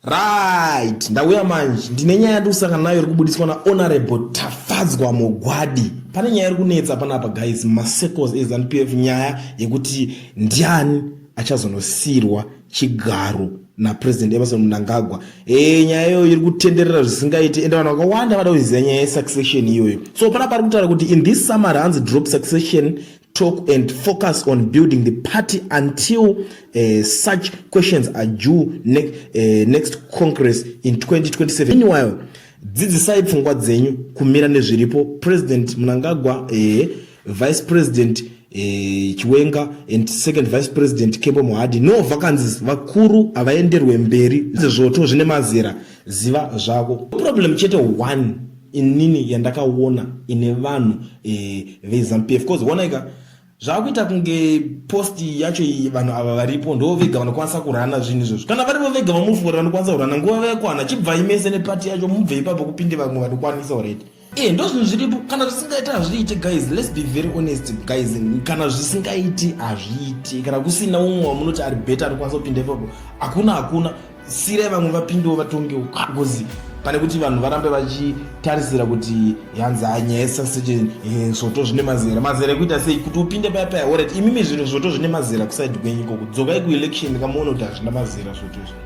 Right, ndauya manje. Ndine nyaya yandikusangana nayo iri kubudiswa na Honorable Tafadzwa Mugwadi. Pane nyaya iri kunetsa panapa guys, masecos eZanu PF nyaya yekuti ndiani achazonosiirwa chigaro na President Emerson Mnangagwa. Eh, nyaya iyoyo iri kutenderera zvisingaite ende vanhu vakawanda vada kuziva nyaya yesuccession iyoyo. So panapa ari kutaura kuti in this summer hanzi drop succession talk and focus on building the party until uh, such questions are due ne uh, next congress in 2027 meanwhile dzidzisai pfungwa dzenyu kumira nezviripo president mnangagwa uh, vice president Eh, chiwenga and second vice president kembo mohadi no vakanzi vakuru havaenderwe mberi zvezvoto zvine mazera ziva zvako problem chete one inini yandakaona ine vanhu eh, vezanupf cause onaika zvakuita kunge post yacho iyi vanhu ava varipo ndo vega vanokwanisa kurana zvinhu izvozvo kana varivo vega vamufori vanokwanisa kurana nguva vayakwana chibvai mese nepati yacho mubve ipapo kupinde vamwe vanokwanisa already e ndo zvinhu zviripo kana zvisingaiti hazviite guys lets be very honest guys kana zvisingaiti hazviite kana kusina umwe wamunoti ari beta anokwanisa kupinda ipapo hakuna hakuna sirai vamwe vapindewo vatongewo because pane kuti vanhu varambe vachitarisira kuti yanzi hanyaya yesaseje eh, zvoto zvine mazera mazera ekuita sei kuti upinde paya paya orit imimi zvinhu zvoto zvine mazera kusaidi kwenyu ikoko dzokai kuelection kamuone kuti hazvina mazera zvoto izvo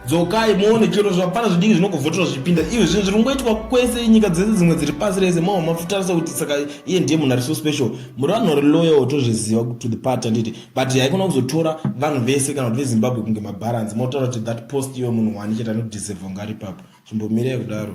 dzokai muone chero zvapana zvidiki zvinokuvhoterwa zvipinda ivo zvinhu zviri kungoitwa kwese nyika dzese dzimwe dziri pasi rese mava mafutarisa kuti saka iye ndiye munhu ari so special muri vanhu vari loyal tozviziva to the party anditi but haikona kuzotora vanhu vese kana kuti vezimbabwe kunge mabharanzi motaura kuti that post iwe munhu wani chete anodeserve kunga ari papo chimbomirei kudaro